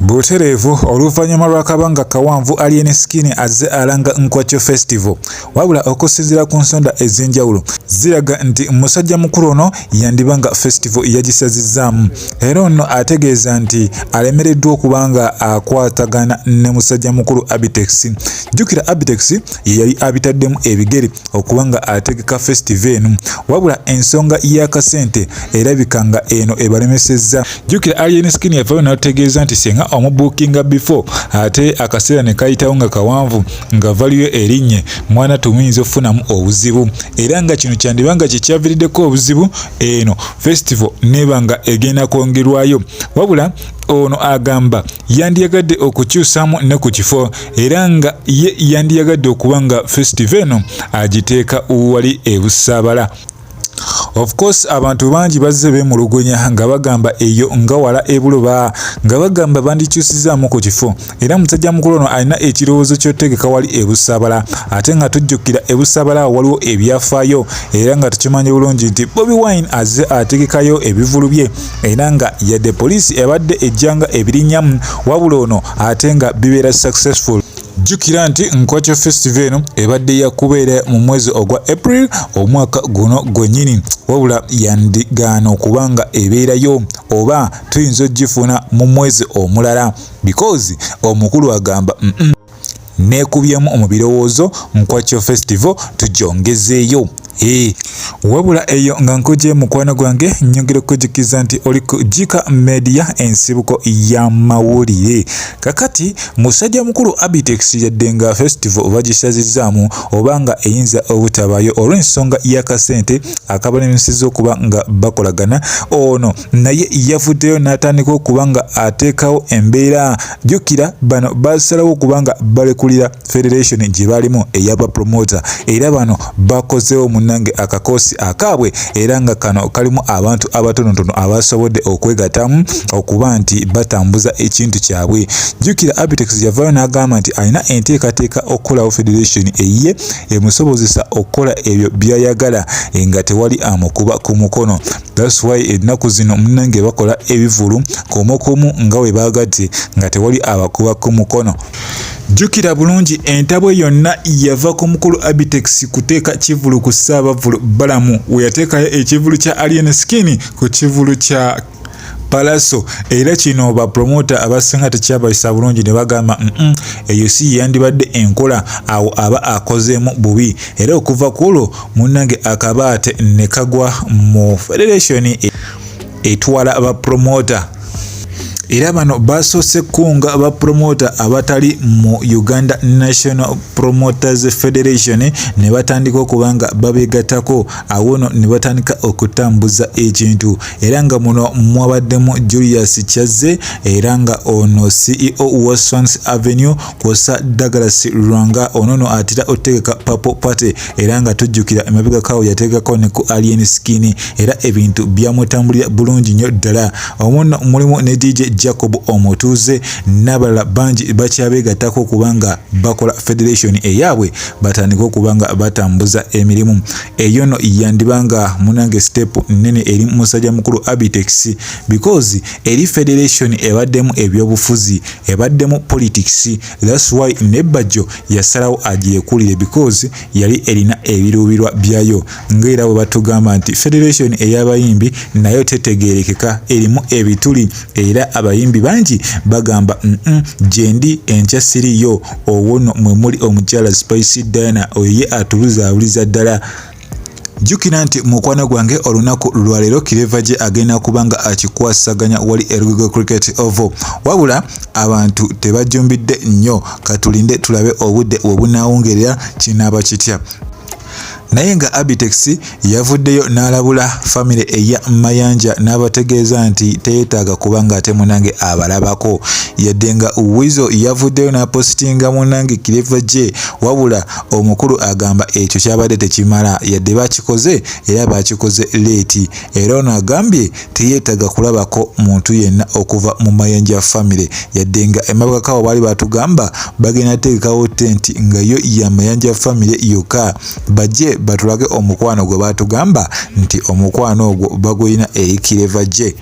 Butereevu oluvannyuma lw'akabanga kawanvu Alien Skin azze alanga Nkwakyo Festival wabula okusinziira ku nsonda ez'enjawulo ziraga nti musajja mukulu ono yandiba nga festival yagisazizzaamu era ono ategeeza nti alemereddwa okuba nga akwatagana ne musajja mukulu Abitex. Jjukira Abitex ye yali abitaddemu ebigere okuba nga ategeka festival eno wabula ensonga y'akasente erabika nga eno ebalemesezza. jjukira alien skin yavayo n'atutegeeza nti singa omubuukinga before ate akaseera ne kayitawo nga kawanvu nga valiyo erinnye mwana tumuyinza okufunamu obuzibu era nga kino kyandiba nga kye kyaviriddeko obuzibu eno festival neeba nga egenda kwongerwayo wabula ono agamba yandiyagadde okukyusamu ne ku kifo era nga ye yandiyagadde okuba nga festival eno agiteeka wali ebusaabala of course abantu bangi bazze bemulugunya nga bagamba eyo nga wala ebuluba nga bagamba bandikyusizaamu ku kifo era musajja mukulu ono alina ekirowoozo kyotegeka wali ebusabala ate nga tujjukira ebusabala waliwo ebyafaayo era nga tukimanyi bulungi nti bobi wine azze ategekayo ebivulu bye era nga yadde poliisi ebadde ejjanga ebirinyamu wabula ono ate nga bibeera successful jjukira nti nkwacho festival eno ebadde ya kubeera mu mwezi ogwa april omwaka guno gwennyini wabula yandigaana okuba nga ebeerayo oba tuyinza okugifuna mu mwezi omulala because omukulu agamba mm -mm. neekubyemu mu birowoozo nkwacho festival tujongezeeyo Hey, wabula eyo nga nkuje mukwano gwange nyongera okukujukiza nti oli ku Jika Media ensibuko ya mawulire kakati musajja mukulu Abitex yadde nga festival oba gisazizaamu oba nga eyinza obutabayo olw'ensonga y'akasente akabalemeseza okuba nga bakolagana ono naye yavuddeyo n'atandika okuba nga ateekawo embeera jjukira bano basalawo okuba nga balekulira federation gye balimu eyaba promoter era bano bakozeewo munnange akakoosi akaabwe era nga kano kalimu abantu abatonotono abasobodde okwegatamu okuba nti batambuza ekintu kyabwe jjukira abitex yavaayo n'agamba nti alina enteekateeka okukolawo federation eyiye emusobozesa okukola ebyo byayagala nga tewali amukuba ku mukono That's why ennaku zino munnange bakola ebivulu komokomu nga we baagadde nga tewali abakuba ku mukono. Jjukira bulungi entabwe yonna yava ku mukulu Abitex kuteeka kivulu ku Ssaabavvulu Balamu we yateekayo ekivulu kya Alien Skin ku kivulu kya Palaso era kino ba promoter abasinga tekyabayisa bulungi ne bagamba mm eyo si yandibadde enkola awo aba akozeemu bubi era okuva ku olwo munange akabaate ne kagwa mu federation e, etwala ba promoter era bano basoose kunga ba promoter abatali mu uganda national promoters federation ne batandika okuba nga babegatako awo no ne batandika okutambuza ekintu era nga muno mwabaddemu julius kyazze era nga ono ceo wa swans avenue kwosa Douglas Lwanga ono no atera otegeka Purple Party era nga tujjukira emabega kawo yategekako ne ku Alien Skin era ebintu byamutambulira bulungi nnyo ddala omuno mulimu ne DJ Jacob omutuuze n'abalala bangi bakyabeegattako okuba nga bakola federation eyaabwe batandika okuba nga batambuza emirimu eyo no yandiba nga munange step nnene eri musajja mukulu Abitex because eri federation ebaddemu ebyobufuzi ebaddemu politics that's why nebajjo yasalawo agyekulire because yali erina ebiruubirwa byayo ngaera bwe batugamba nti federation ey'abayimbi nayo tetegeerekeka erimu ebituli era abayimbi bangi bagamba mm -mm, gyendi enkya siriyo owono mwe muli omukyala spice diana oyo ye atubuzaabuliza ddala jjukira nti mukwano gwange olunaku lwaleero kireva gye agenda kuba nga akikwasaganya wali erugigo cricket ovo wabula abantu tebajjumbidde nnyo katulinde tulabe obudde webunaawungerera kinaaba kitya naye nga abitex yavuddeyo n'alabula famire eya mayanja n'abategeeza nti teyetaaga kuba ng'ate munange abalabako yadde nga wizo yavuddeyo n'apositinga munange kireva gye wabula Omukulu agamba ekyo kyabadde tekimala yadde bakikoze era bakikoze leeti era ono agambye teyeetaga kulabako muntu yenna okuva mu Mayanja famire yadde nga emabegako awo baali batugamba bagenda teekawo tenti nga yo ya Mayanja famire yokka bajje batulage omukwano gwe batugamba nti omukwano ogwo bagulina eri Kireva gye.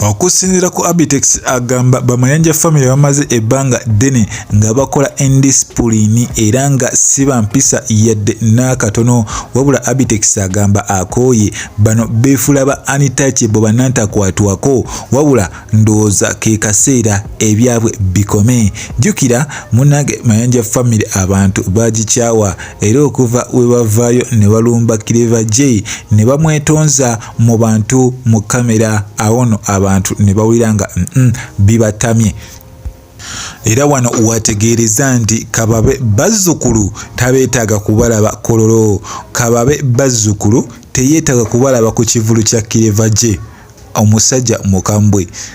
okusinzira ku abitex agamba bamayanja famire bamaze ebbanga ddene nga bakola endisipuliini era nga si bampisa yadde n'akatono wabula abitex agamba akooye bano beefula ba anitaki bwe banantakwatwako wabula ndowooza ke kaseera ebyabwe bikome jjukira munange mayanja famire abantu bagikyawa era okuva we bavaayo ne balumba kireva j ne bamwetonza mu bantu mu kamera awo no abantu ne bawulira nga mm -mm, bibatamye era wano wategeereza nti kababe bazzukulu tabeetaaga kubalaba kololo kababe bazzukulu teyeetaaga kubalaba ku kivulu kya kireva gye omusajja mukambwe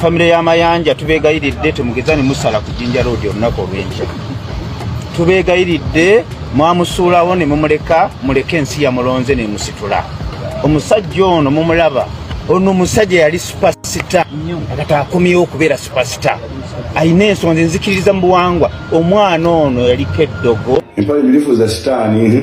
famire ya mayanja tubeegayiridde temugeza ne musala ku jinja roodi olunaku olw'enkya tubeegayiridde mwamusuulawo ne mumuleka muleke ensi yamulonze ne musitula omusajja ono mumulaba ono omusajja yali supasita kati akomyewo okubeera supasita alina ensonga ze nzikiririza mu buwangwa omwana ono yaliko eddogo empale mirifu za sitaani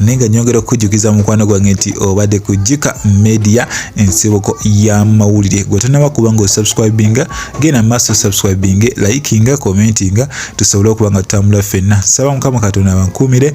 naye nga nyongera okukujjukiza mukwano gwange nti obadde ku jika media ensibuko y'amawulire gwe tonaba kuba nga osubscribinga genda maaso subscribinge likinga commentinga tusobole okuba nga tutambula ffenna saba mukama katonda abankuumire